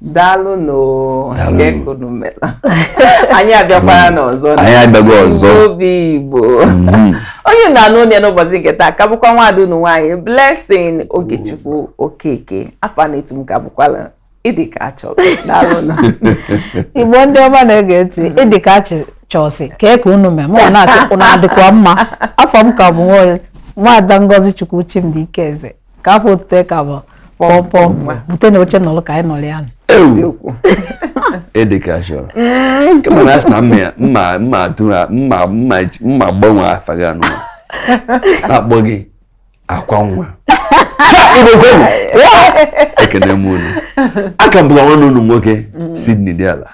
daalụ nụ oo Daalụ. kee ka unu mere anyị abịakwara nụ ọzọ na anyị abịago ọzọ obi igbo Mhm. onye na-anụ onye n'ụbọchị nke taa ka bụkwa nwaada unu nwaanyị blessing ogechukwu okeke afa na-etu m ka bụkwala ịdị ka achọrọ daalụ nụ igbo ndị ọma na-ege ntị ịdị ka achị chọsị kee ka unu mee mụ na-asị unu adịkwa mma afa m ka bụ nwa nwaada ngozichukwu chimdi ikeze ka afa otutu ka bụ pọpọ butenụ oche nọlụ ka anyị nọrọ ya ịdị ka achọrọ ka m na-asị na mma mma atụ ha mma mma gbanwe afa gị anụ na-akpọ gị akwa nwa ekene m unu a ka m bụ nwanne unu nwoke Sydney Diala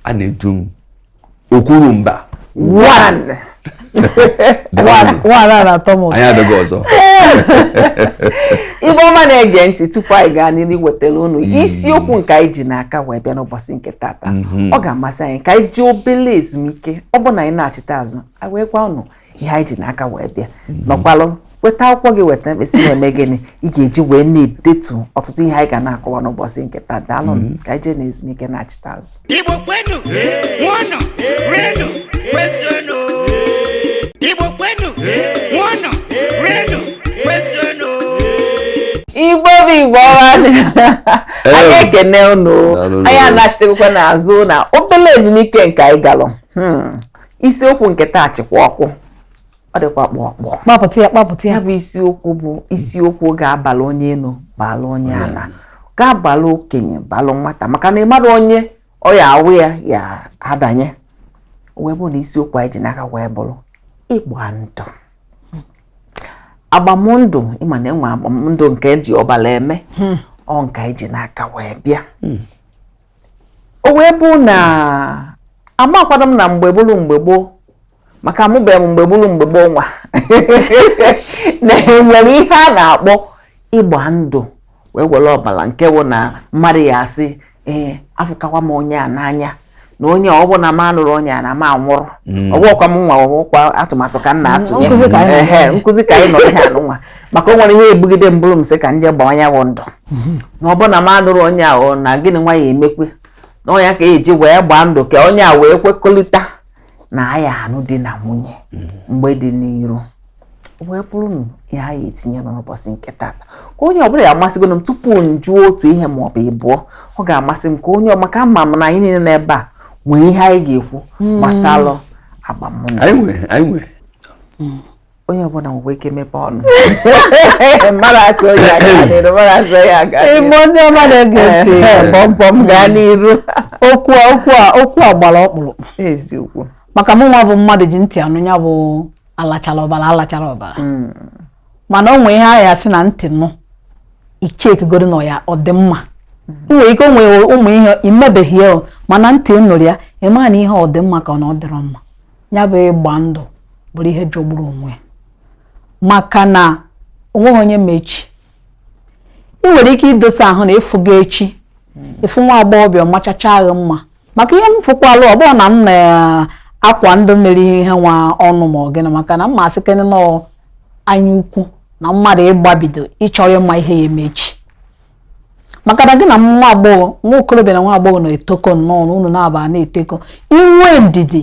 a na-etu m okwuru mba ọnụ Igbo ọma na-ege ntị tupu anyị gaa n'iru iwetara unu mm. isiokwu nke anyị ji n'aka wee bịa n'ụbọchị nke tata mm-hmm. ọ ga-amasị anyị ka anyị jee obele ezumike ọ bụ na anyị nachita azụ anyị wee gwa unu ihe anyị ji n'aka wee bịa nọkwalụ weta akwụkwọ gị weta mkpịsị na-eme gịnị ị ga-eji wee na-edetu ọtụtụ ihe anyị ga na-akọwa n'ụbọchị nke taa daalụ mm-hmm. ka anyị jee na ezumike nachita azụ Igbo kwenu ṅụọnụ rienụ kwezuonụ Igbo kwenu ṅụọnụ rienụ kwezuonụ Igbo bụ Igbo ọma anyị ekene unu anyị anachitekwa n'azụ na obele ezumike nke anyị galụ hmm. isiokwu nke taa chịkwa ọkụ ọ dịkwa kpụ ọkpụ kpapụta ya kpapụta ya ya bụ isiokwu bụ isiokwu ga-abalụ onye enu balụ onye ana ga-abalụ okenye balụ nwata maka na amarọ onye ọ ya-abụ ya ya adanye wee bụ na isiokwu anyị ji n'aka wee bụrụ ịgba ndụ agbamndụ ị ma na e nwe agbamndụ nke eji ọbala eme ọ nke anyị ji n'aka wee bịa o wee bụ na amakwanụ m na mgbe bụrụ mgbe gboo maka amụbeghị m mgbe bụrụ mgbe gboo nwa na enwere ihe a na-akpọ ịgba ndụ wee were ọbala nke bụ na mmadụ ya asị ee afụkakwa m onye a n'anya na onye ọ bụ na m anụrọ onye a na m anwụrụ mm. ọ bụkwa m nwa ọ bụkwa atụmatụ ka m na-atụ onye nkụzi ka anyị nọ ihe a nụnwa maka o nwere ihe e bugide m bụrụ m sị ka m jee gbaa ya bụ ndụ mhm. na ọ bụ na m anụrọ onye ahụ na gịnị nwa ya-emekwe na ọ nya ka eji wee gbaa ndụ ka onye a wee kwekọrịta na a ya-anụ di na nwunye mhm. mgbe dị n'iru wee bụrụ na ihe anyị etinye n'ụbọchị nke tata ka onye ọbụla ya-amasịgodu m tupu m jụọ otu ihe ma ọ bụ ịbụọ ọ ga-amasị m ka onye ọ maka ama m na anyị niile n'ebe a nwee ihe anyị ga-ekwu hmm. gbasara agbamndụ onye ọbụla nwekwa ike mepe ọnụ mmadụ asị onye a gaa n'iru mmadụ asị onye a gaa n'iru Igbo ndị ọma na-ege ntị Ee, pọmpọm gaa n'iru okwu a okwu a okwu a gbara ọkpụrụkpụ eziokwu maka mụ nwa bụ mmadụ ji ntị anụ ya bụ alachara ọbara alachara ọbara Mm, mana o nwee ihe a ya-asị na ntị nụ ichekigoro na ya ọ dị mma i nwere ike o nwere ụmụ ihe imebeghị ya o, mana ntị nụrụ ya ị ma na ihe ọ dị mma ka ọ na ọ dịrọ mma ya bụ ịgba ndụ bụrụ ihe jọgburu onwe maka na onweghị onye ma echi ị nwere ike idosa ahụ na ịfụga echi ịfụ nwa agbọghọbịa machacha ahụ mma maka ihe m fụkwalụ ọ bụrụ na m na akwa ndụ mere ihe nwa ọnụ ma ọ gịnị maka na ịma a sịkene na anya ukwu na mmadụ ịgbabido ịchọrọ ịma ihe ya-eme echi maka na gị na nwa agbọghọ nwa okorobịa na nwa agbọghọ na-etokọ nnọọ na unu na-aba na-etokọ i nwee ndidi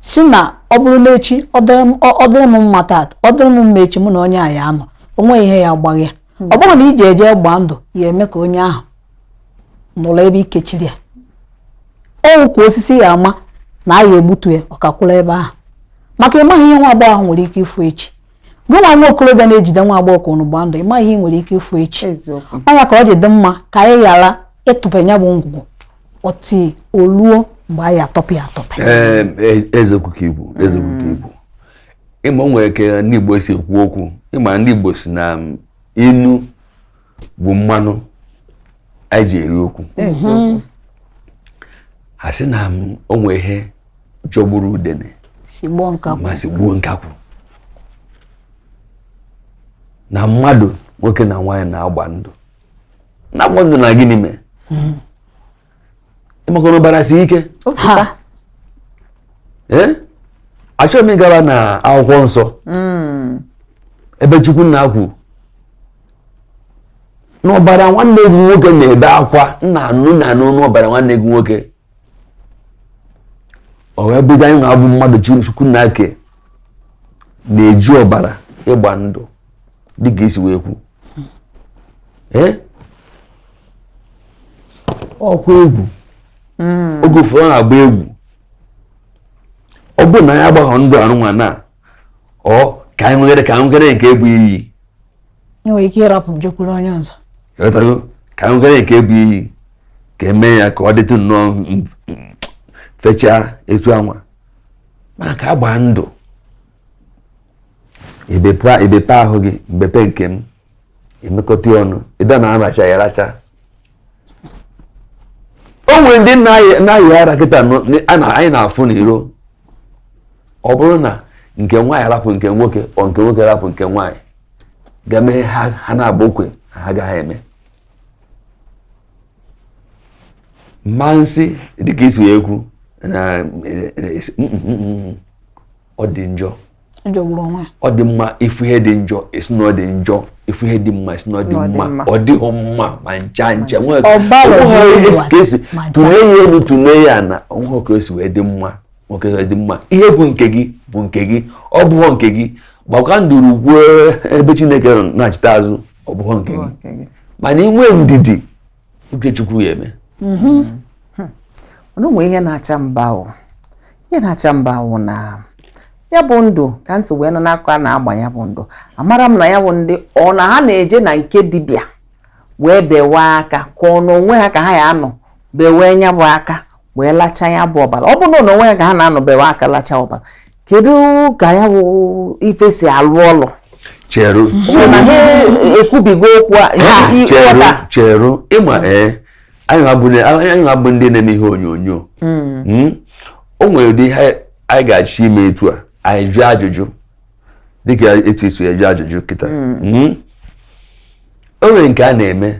si na ọ bụrụ n'echi ọ dịrị m mma taata ọ dịrị m mma echi mụ na onye a ya anọ onwe ihe ya agbaghị ya hmm. ọ bụrụ na iji eje gbaa ndụ ya eme ka onye ahụ nọrọ ebe ikechiri ya ọ wụkwa osisi ya ama na a ya egbutu ya ọ kakwụrụ ebe ahụ maka ịmaghị ihe nwa agbọghọ ahụ nwere ike ịfụ echi gị nwa nwa okorobịa na-ejide nwa agbọghọ ka unu gbaa ndụ ịmaghị ihe ị nwere ike ịfụ echi ọ ya ka o ji dị mma ka anyị ghara ịtụpe ya bụ ngwugwu ọtị oluo mgbe anyị atọpụ ya atọpụ eziokwu ka ibu eziokwu ka ibu ịma o nwere ka ndị Igbo si ekwu okwu ịma ndị Igbo si na ilu bụ mmanụ anyị ji eri okwu ha sị na o nwee ihe jọgburu udene ma sigbuo nkakwụ na mmadụ nwoke na nwaanyị na-agba ndụ na-agba ndụ na gịnị mee hmm. ịmakwa na ọbara si ike achọghị m ịgaba na akwụkwọ nsọ hmm. ebe chukwu nna kwu n'ọbara nwanne gị nwoke na-ebe akwa m na-anụ na-anụ n'ọbara nwanne gị nwoke o wee bụzi anyị nwa bụ mmadụ chukwu nna ke na-eji ọbara ịgba ndụ dịka esi wee kwu ọkwa egwu hmm. oge ụfọdụ na-agba egwu ọ bụrụ na anyị agbaghọ ndụ arụnwa na ọ ka anyị nwegere ka anyị nwegere nke ibu iyi enwere ike ịrapụ njekwuru onye ọzọ ghọtago ka anyị nwegere nke ibu iyi ka eme ya ka ọ dịtụ nnọọ fechaa etu anwa mana ka agbaa ndụ ebepe ahụ gị m bepe nke m emekọta ọnụ ịda na-aracha ya aracha o nwere ndị na-ayị ara kịta anyị na-afụ n'iro ọ bụrụ na nke nwaanyị rapụ nke nwoke or nke nwoke rapụ nke nwaanyị ga-eme ha na-agba okwe ha gaghị eme mmansi dịka i si wee kwu na ọ dị njọ ọ dị mma ị fụ ihe dị njọ ị sị na ọ dị njọ ị fụ ihe dị mma ị sị na ọ dị mma ọ dịghị mma ma ncha ncha e si tụnye ya enu tụnye ya ana o nweghị ka o si wee dị mma nwoke wee dị mma ihe bụ nke gị bụ nke gị ọ bụghọ nke gị gbakwa nduru gwuo ebe Chineke nọ nachita azụ ọ bụghọ nke gị mana i nwee ndidi uche Chukwu ya-eme mhm. hmm. mana ụmụ ihe na-acha mba ahụ ihe na-acha mba ahụ na ya bụ ndụ ka m si wee nọ n'akụkọ a na-agba ya bụ ndụ amara m na ya bụ ndị ọ na ha na-eje na nke dibịa wee bewe aka ka ọ n'onwe ha ka ha ya-anọ bewe nya bụ aka wee lacha ya bụ ọbara ọ bụ n'onwe ya ka ha na-anọ bewe aka lacha ọbara kedu ka ya bụ ife si alụ ọlụ cheru na ha ekwubigo okwu a i- cheru ịghọta cheru ịma ee anyị nwa bụ ndị- anyị nwa bụ ndị na-eme ihe onyonyo Mm. o nwere ụdị ihe anyị ga-achọ ime etu a anyị jụọ ajụjụ dịka etu e si ajụ ajụjụ kịta Mm. o nwere nke a na-eme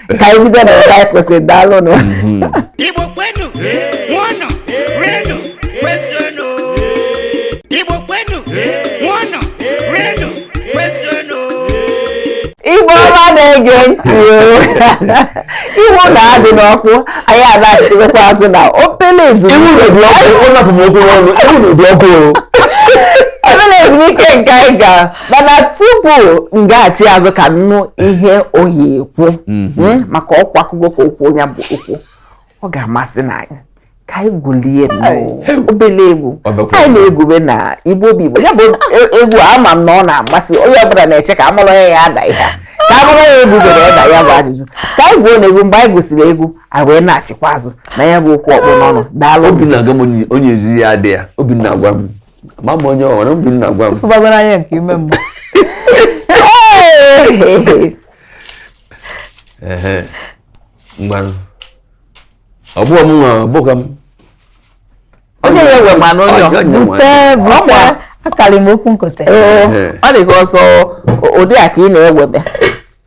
ka anyị bido na ebe anyị kwụsị daalụnụ Igbo kwenu, ṅụọnụ, rienu, kwezuenu. Igbo kwenu, ṅụọnụ, rienu, kwezuenu. Igbo ọma na-ege ntị o. iwu na-adị n'ọkụ anyị anachitekwa azụ na obele ezumike Ewu na-ebi ọkụ, ọ napụ m okwu n'ọnụ, ewu na-ebi ọkụ o. obere ezumike nke anyị ga mana tupu m gaghachi azụ ka m nụ ihe ọ ya-ekwu mhm. hmm, maka ọkwa akụkọ ka okwu onye bụ okwu ọ ga-amasị na anyị ka anyị gwulie obele egwu anyị na-egwube na Igbo obi Igbo ya bụ e, egwu ama m na ọ na-amasị onye ọbụla na-eche ka a mụrụ ya ya ada ihe ka a mụrụ ya egwu zoro ya na ya bụ ajụjụ ka anyị gwuo na egwu mgbe anyị gwusiri egwu a wee nachikwa azụ na ya bụ okwu a kpụ n'ọnụ daalụ obi m na-agwa m onye ezi ya adị ya obi m na-agwa m ma m onye ọhụrụ obi m na-agwa m fụbagoro anya nke ime mgbe mgbanụ ọ bụghị m nwa ọ bụghị m onye ya nwe ma n'onye bute bute akarị m okwu nkote ọ dị ka ọsọ ụdị a ka ị na-ewebe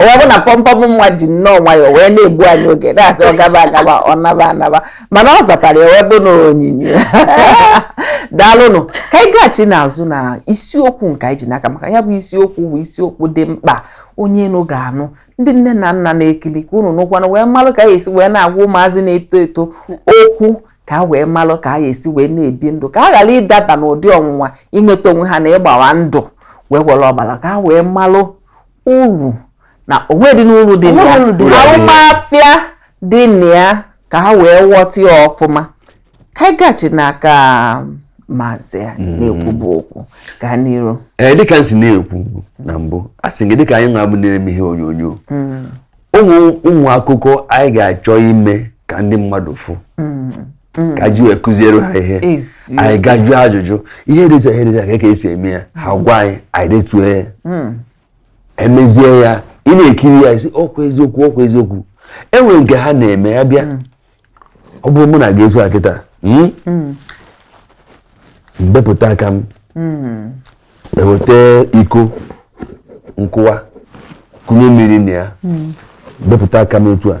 o wee bụ na pọmpọm nwa ji nnọọ nwayọọ wee na-egbu anyị oge na-asị ọ gaba agaba ọ naba anaba mana ọ zatara ya wee bụ na onyinyo daalụnụ ka anyị gaghachi n'azụ na isiokwu nke anyị ji n'aka maka ya bụ isiokwu bụ isiokwu dị mkpa onye nụ ga-anụ ndị nne na nna na-ekili ka unu nụkwanụ wee malụ ka anyị esi wee na-agwa ụmụazị na-eto eto okwu ka a wee malụ ka anyị esi wee na-ebi ndụ ka a ghara ịdaba n'ụdị ọnwụnwa inweta onwe ha na ịgba ndụ wee were ọbara ka a wee malụ uru na onwe dị n'uru dị na ya arụmafịa dị na ya ka ha wee ghọta ya ọfụma ka anyị gachi n'aka maazị a hmm. na-ekwubu okwu gaa n'iru ee eh, dịka m si na-ekwu na mbụ a sị gị dịka anyị nwa bụ na-eme ihe onyonyo hmm. ụmụ akụkọ anyị ga-achọ ime ka ndị mmadụ fụ hmm. Mm. ka e ji wee kụziere ha ihe anyị gaa jụọ ajụjụ ihe dịcha ihe dịcha ka ka esi eme ya ha mm. gwa anyị anyị detue ya mm. emezie ya ị na-ekiri ya ị sị ọkwa eziokwu ọkwa eziokwu enwere nke ha na-eme ya bịa ọ bụrụ mụ na gị etu a kịta hmm? m bepụta aka m e weta iko nkụwa kụnye mmiri na ya bepụta aka m etu a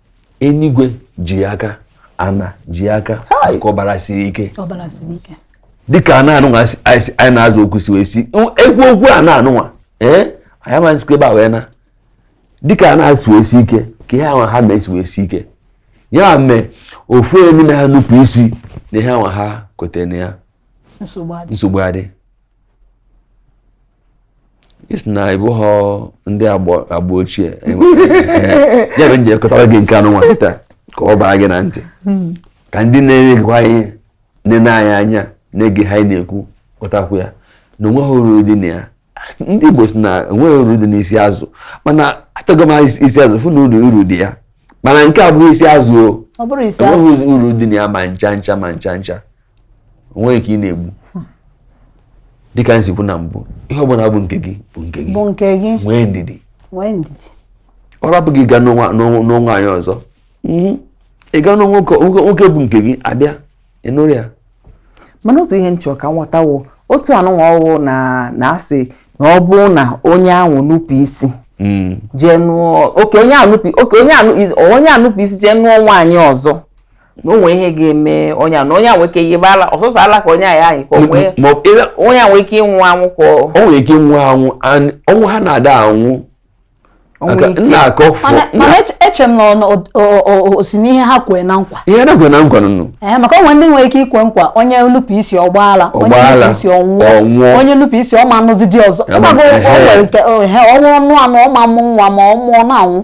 enigwe ji aka ana ji aka ka ọbara siri ike dịka ana anụnwa anyị na-azọ ụkwụ si wee si ekwu okwu ana anụnwa ee anyị amaghịzikwa ebe a wee na dịka ana si wee sie ike ka ihe anwa ha mee si wee sie ike ya mee ofu onye n'ime ha nupụ isi na ihe anwa ha kwetara na ya nsogbu adị ị sị na ị bụghọ ndị agba ochie ya bụ m ji akọtara gị nke anụnwa kịta ka ọ baa gị na ntị hmm. ka ndị na-egekwa ihe na-ene anyị anya na-ege ihe anyị na-ekwu ghọtakwuo ya na onweghị uru dị na ya ndị Igbo si na onweghị uru dị n'isi azụ mana atago m isi azụ fụ na uru dị ya mana nke a bụghị isi azụ o enweghị uru dị na ya ma ncha ncha ma ncha ncha onweghị ka ị na-egbu dịka m si kwuo na mbụ ihe ọbụla bụ nke gị bụ nke gị bụ nke gị nwee ndidi nwee ndidi ọ rapụ gị gaa nụọ nwaanyị ọzọ mhm. ị gaa nụọ nwoke bụ nke gị abịa ị nụrụ ya mana otu ihe m chọ ka m ghọta wụ otu anụnwa ọ wụ na a sị na ọ bụrụ na onye ahụ nupụ isi mm. jee nụọ oke onye ahụ nupụ isi jee nụọ nwaanyị ọzọ na o nwe ihe ga-eme onye na onye a nwee ike yiba ala ọ sọsọ ala ka onye a ya-ayi ka o nwe onye a nwee ike ịnwụ anwụ ka o nwere ike ịnwụ anwụ ọnwụ ha na-ada anwụ mana eche m na o si n'ihe ha kwere na nkwa ihe na-ekwe na nkwa nụnụ eh, maka o nwe ndị nwere ike ikwe nkwa onye nupụ isi ọ gbaa ala onye nupụ isi ọ nwụọ onye nupụ isi ọ ma anụzi di ọzọ ọ wụ ọ nụ anụ ọ ma mụ nwa ma ọ mụọ na-anwụ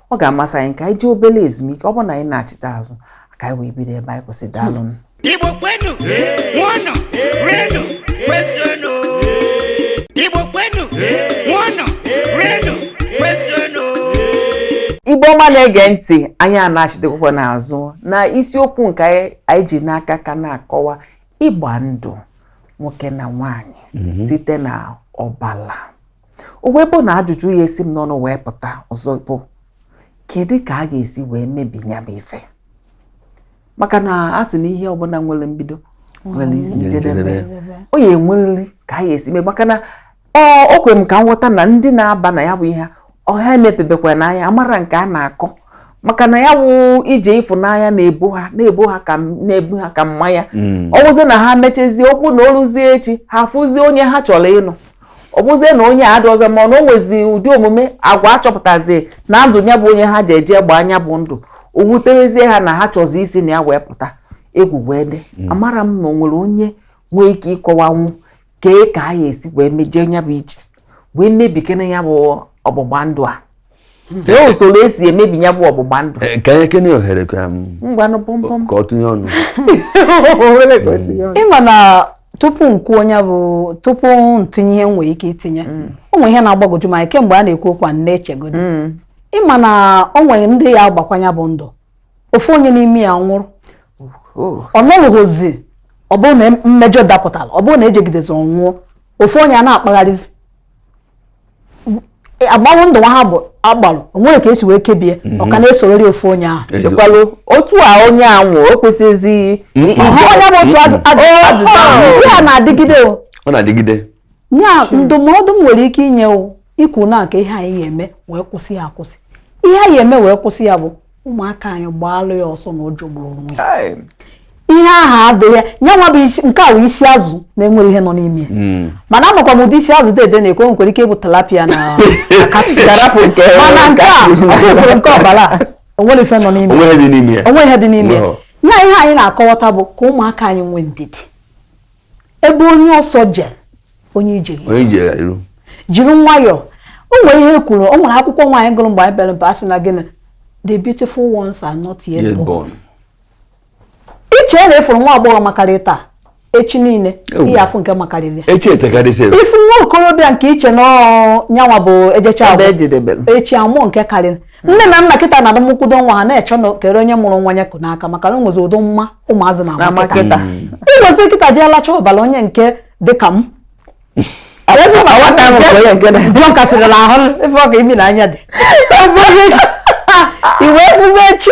ọ ga-amasị anyị ka anyị jee obere ezumike ọ bụrụ na anyị anachite azụ ka anyị wee bido ebe anyị kwụsị daalụ Igbo kwenu ṅụọnụ rienụ kwezuonụ Igbo kwenu ṅụọnụ rienụ kwezuonụ Igbo ọma na-ege ntị anyị anachitekwukwa n'azụ na isiokwu nke anyị ji n'aka ka na-akọwa ịgba ndụ nwoke na nwanyị mhm. site na ọbala o wee bụ na ajụjụ ya-esi m n'ọnụ wee pụta ọzọ bụ kedu ka a ga-esi wee mebi ya bụ ife maka na a sị na ihe ọbụla nwere mbido nwere njedebe ọ ya-enwerịrị ka a ga-esi mee maka na o kwere m ka m ghọta na ndị na-aba na ya bụ ihe ọ ha emepebekwana anya amara nke a na-akọ maka na ya wụ ije ịfụnanya na-ebu ha na-ebu ha ka na-ebu ha ka mmanya mm. ọ wụzi na ha mechezie okwu na o luzie echi ha fụzie onye ha chọrọ ịnụ ọ bụzie na onye adị ọzọ ma ọ na o nwezi ụdị omume agwa a chọpụtazi na ndụ ya bụ onye ha ji eje gbaa nya bụ ndụ o wutewezie ha na ha chọzi isi na ya wee pụta egwu wee dị mm. amara m na o nwere onye nwee ike ịkọwanwu kee ka a ya-esi wee mejie ya bụ iji wee mebikene ya bụ ọgbụgba ndụ a kee usoro e si emebi ya bụ ọgbụgba ndụ eh, ka anyị kenye ohere ka ọ tụnye ọnụ ị ma na tupu m kwuo onye bụ tupu m tinye ihe m nwee ike itinye mm. o nwere ihe na-agbagwoju m anya kemgbe a na-ekwu okwu a na-echegodi mm. ị ma na o nwere ndị ya-agbakwa nya bụ ndụ ofu onye n'ime ya nwụrụ oh. ọ nọrụghịzi ọ bụrụ na mmejọ dapụtara ọ bụrụ na e jegidezi ọ nwụọ ofu onye a na-akpagharịzi e, agbanwe ndụ nwa ha bụ agbalụ o nwere ka e si wee kebie mhm. ọ ka na-esorori ofu onye ahụ chekwalụ otu a onye a nwụ o kwesịzi onye bụ otu ajụjụ ya na-adịgide o ọ na-adịgide ya ndụmọdụ m nwere ike inye o ikwu na kee ihe a ya-eme wee kwụsị ya akwụsị ihe a ya-eme wee kwụsị ya bụ ụmụaka anyị gbaalụ ya ọsọ na ọ jọgburu onwe ya ihe ahụ adịghị ya nwa bụ isi nke a bụ isi azụ na-enwere ihe nọ n'ime ya hmm. mana amakwa m ụdị isi azụ dede na-ekwu nwekwara ike ịbụ tilapia na mana nke a ọ bụrụ nke ọbara o nwere ife nọ n'ime o nwe ihe dị n'ime ya ihe anyị na-akọwata bụ ka ụmụaka anyị nwee ndidi ebe onye ọsọ je onye ije iru jiri nwayọọ o nwere ihe kwuru o nwere akwụkwọ anyị gụrụ mgbe anyị bịara mba a sị na gịnị the beautiful ones are not yet born i chee na ị fụrụ nwa agbọghọ makarị taa echi niile ị ya-afụ nke makarịrị ị fụ nwa okorobịa nke i che na nyanwa bụ ejecha echi a mụọ nke karịrị nne na nna kịta na-adamụkwudo nwa ha na-achọ na kere onye mụrụ nwa ya ku n'aka maka na o nwezi ụdị mma ụmụ azị na na-ama kịta. ịgwezi kịta ji alacha ọbara onye nke dị ka m Ebe ma nwata ahụ bụ onye nke na- Nwa ka sịrịla ahụ ebe ọ ka imi na anya dị i wee bụzie chi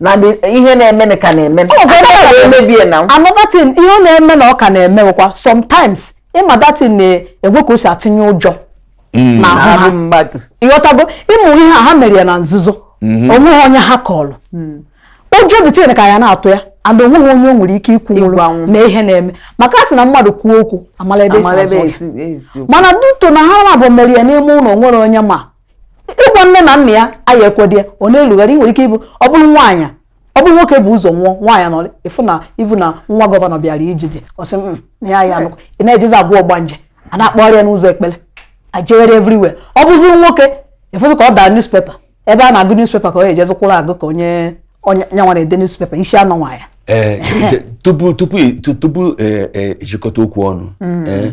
na ihe na-eme ka na-eme emebie na anọ that thing ihe ọ na-eme na ọ ka na-eme bụkwa sometimes ị ma that thing na-enwe ka o si atụnye ụjọ mm. n'ahụ ha ị ghọtago ịmụ ihe a ha mere ya na nzuzo mm-hmm. onweghị onye ha kọlụ mm. ụjọ the thing ka ya na-atụ ya and onweghị onye o nwere ike ikwunwuru na ihe na-eme maka a sị na mmadụ kwuo okwu a mala ebe e si mana due to na ha naabọ mere ya n'ime ụlọ nwere onye ma ịgwa nne na nna ya a ya-ekwedị ya ọ na-erugharị nwere ike ịbụ ọ bụrụ nwaanyị ọ bụrụ nwoke bu ụzọ nwụọ nwaanyị nọ ị fụ na ibu na nwa gọvanọ bịara ijide ọsị mm, na ya ya nụkọ ị na-ejezi abụọ ọgbanje a na-akpọgharị ya n'ụzọ ekpere ajegharị everywhere ọ bụzi nwoke ị fụzi ka ọ daa newspaper ebe a na-agụ newspaper ka ọ ejezi kwụrụ agụ ka onye onye nyanwa na-ede newspaper isi anọ nwa ya eh, tupu tupu tupu ejikọta eh, okwu ọnụ mm. eh,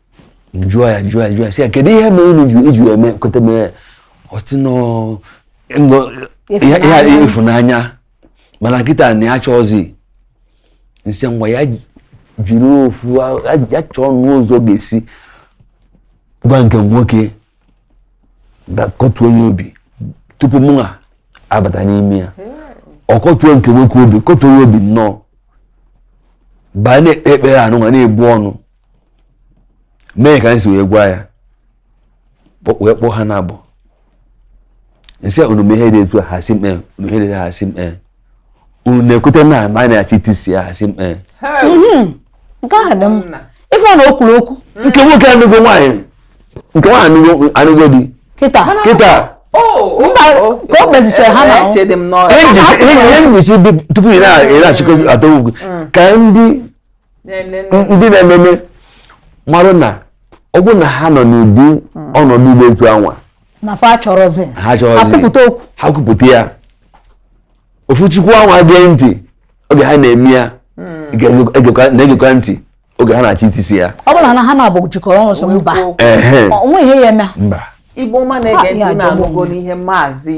m jụọ ya m jụọ ya m jụọ ya sị ya kedu ihe mere unu ji iji eme kweta mee oath nọ nọ ihe ihe a Ịfụnanya. ịfụnanya mana kịta na ya chọọzi m sị ngwa ya jiri ofu a- ya- ya chọọnụ ụzọ ọ ga-esi gwa nke nwoke ga-akọtuo ya obi tupu mụnwa abata n'ime ya ọ kọtuo nke nwoke obi kọtuo ya obi nnọọ baa na-ekpe ekpere anyịnwa na-ebu ọnụ mee ka anyị si wee gwa ya wee kpọọ ha naabọ m sị unu mee ihe dị etu a ha sị m ee unu ihe dị ha sị m ee unu na-ekweta na ma anyị na-achọ itisi ya ha sị m ee mhm. nke a dị m ife ọ na o kwuru okwu nke nwoke anụgo nwaanyị nke nwaanyị anụgo di kịta kịta oh, mba oh, oh, ka o kpezichara ha na ihe njisi tupu ị na-achịkọzi atọ ugwu mm. ka ndị ndị na-ememe mara na ọ bụ na ha nọ n'ụdị hmm. ọnọdụ ugbo etu anwa ha kwupụta ya ofu chukwu anwa gee ntị oge ha na-eme ya hmm. na-egekwa ntị oge ha na-achọ itisi ya ọ bụrụ na ha naabọ jikọrọ ọnụ so mba o nwe ihe ya-eme igbo ọma na-ege ntị unu anụgonụ ihe maazị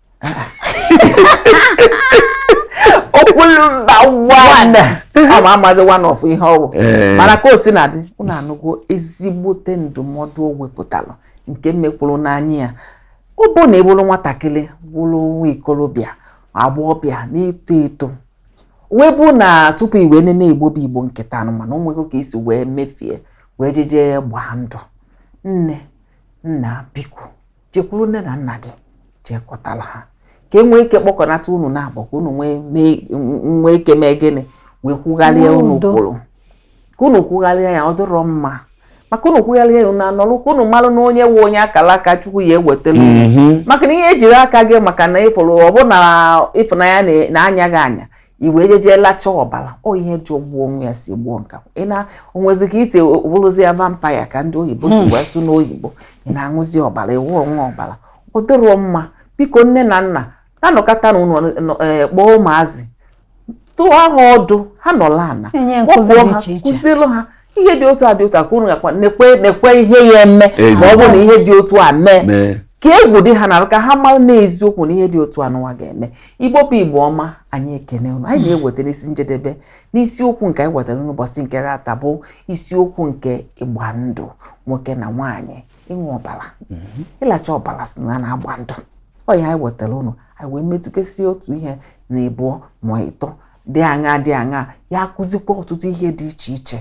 okwulumba one ọ ma amazi one of ihe ọ wụ eh. mana ka o si na dị unu anụgo ezigbote ndụmọdụ o wepụtara nke mekwuru n'anya ya ọ bụ na ị bụrụ nwatakịrị bụrụ nwa ikorobịa agbọghọbịa na-eto eto wee bụ na tupu i wee nene igbo bụ igbo nke taa nụ mana o nwego ka i si wee mefie wee jeje gbaa ndụ nne nna biko jekwuru nne na nna gị jee kọtara ha ka e nwee ike kpọkọnata unu naabọ ka unu nwee ike mee gịnị wee kwugharịa unu kwuru ka unu kwugharịa ya ọ dịrọ mma maka unu kwugharịa ya unu anọrụ ka unu marụ na onye nwe onye akara aka chukwu ya ewetara mhm. maka na ihe ejiri aka gị maka na ị fụrụ ọ bụ na ịfụnanya na-anya gị anya i wee jeje lacha ọbara ọ ihe jụọ gbuo onwe ya si gbuo nka ị na o nwezi ka i si bụrụzi ya vampire ka ndị oyibo si hmm. wee sụ n'oyibo ị na-aṅụzi ọbara ị ṅụwe ọbara ọ dịrọ mma biko nne na nna na-anọkatanụ e, kpọọ ụmụazị dụọ ha ọdụ ha nọla ana kpọpụọ ha kụzielụ ha ihe dị otu a dị otu a ka unu gakwa nekwe nekwe ihe ya eme ma ọ bụrụ na ihe dị otu a mee ka egwu dị ha na ka ha mara na eziokwu na ihe dị otu anụwa ga-eme igbo bụ igbo ọma anyị ekene unu anyị na-ewetara isi njedebe n'isiokwu nke anyị wetara n'ụbọchị nke taa bụ isiokwu nke ịgba ndụ nwoke na nwaanyị ịṅụ ọbara mhm. ịlacha ọbara sị na a na-agba ndụ ọ ya anyị wetara unu anyị wee metụkesie otu ihe na ịbụọ ma ịtọ dị aṅa dị aṅa ya akụzikwa ọtụtụ ihe dị iche iche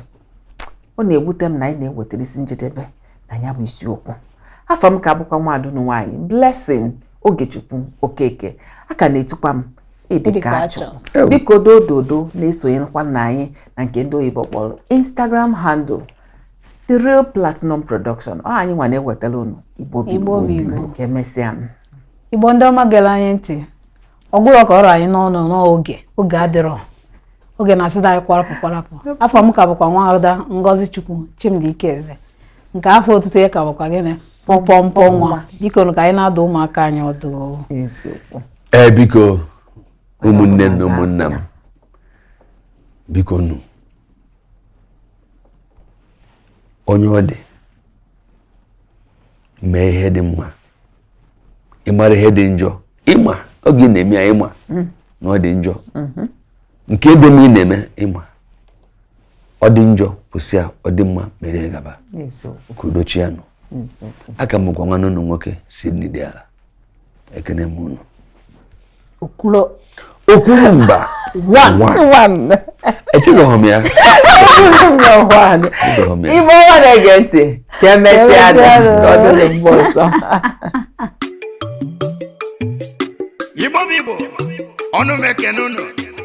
ọ na-ewute m na anyị na-ewetara isi njedebe na ya bụ isiokwu afa m ka bụkwa nwaada nwaanyị Blessing Ogechukwu Okeke a ka na-etukwa m ịdịka achọ dịka odododo na-esonyekwa na anyị na nke ndị oyibo kpọrọ Instagram handle The Real Platinum Production ọ anyị nwa na-ewetara unu Igbo bụ Igbo ka emesịa Igbo ndị ọma gere anyị ntị ọ gwụrụ ka ọ ra anyị n'ọnụ n'oge oge adịrọ oge na-asịda anyị kwarapụ kwarapụ afa m ka bụkwa nwa ada Ngozi Chukwu Chimdi Ikeze nke afa otutu ya ka bụkwa gịnị pọmpọmpọ nwa biko ka anyị na-adụ ụmụaka anyị ọdụ ee biko ụmụnne na ụmụnna m biko nụ onye ọ dị mee ihe dị mma ị mara ihe dị njọ ị ma oge ị na-eme ya ị ma mm. na ọ dị njọ mm-hmm. nke dị mma ị na-eme ị ma ọ dị njọ kwụsị ya ọ dị mma mere ya gaba ka udo chịa nụ a ka m bụkwa nwanne unu nwoke si nne dị ala ekene m unu okwuru okwuru mba echezọghị m ya ibe ọwa na-ege ntị ka emesịa nụ ka ọ dịrị mgbe ọzọ igbo bụ igbo ọnụ m ekene unu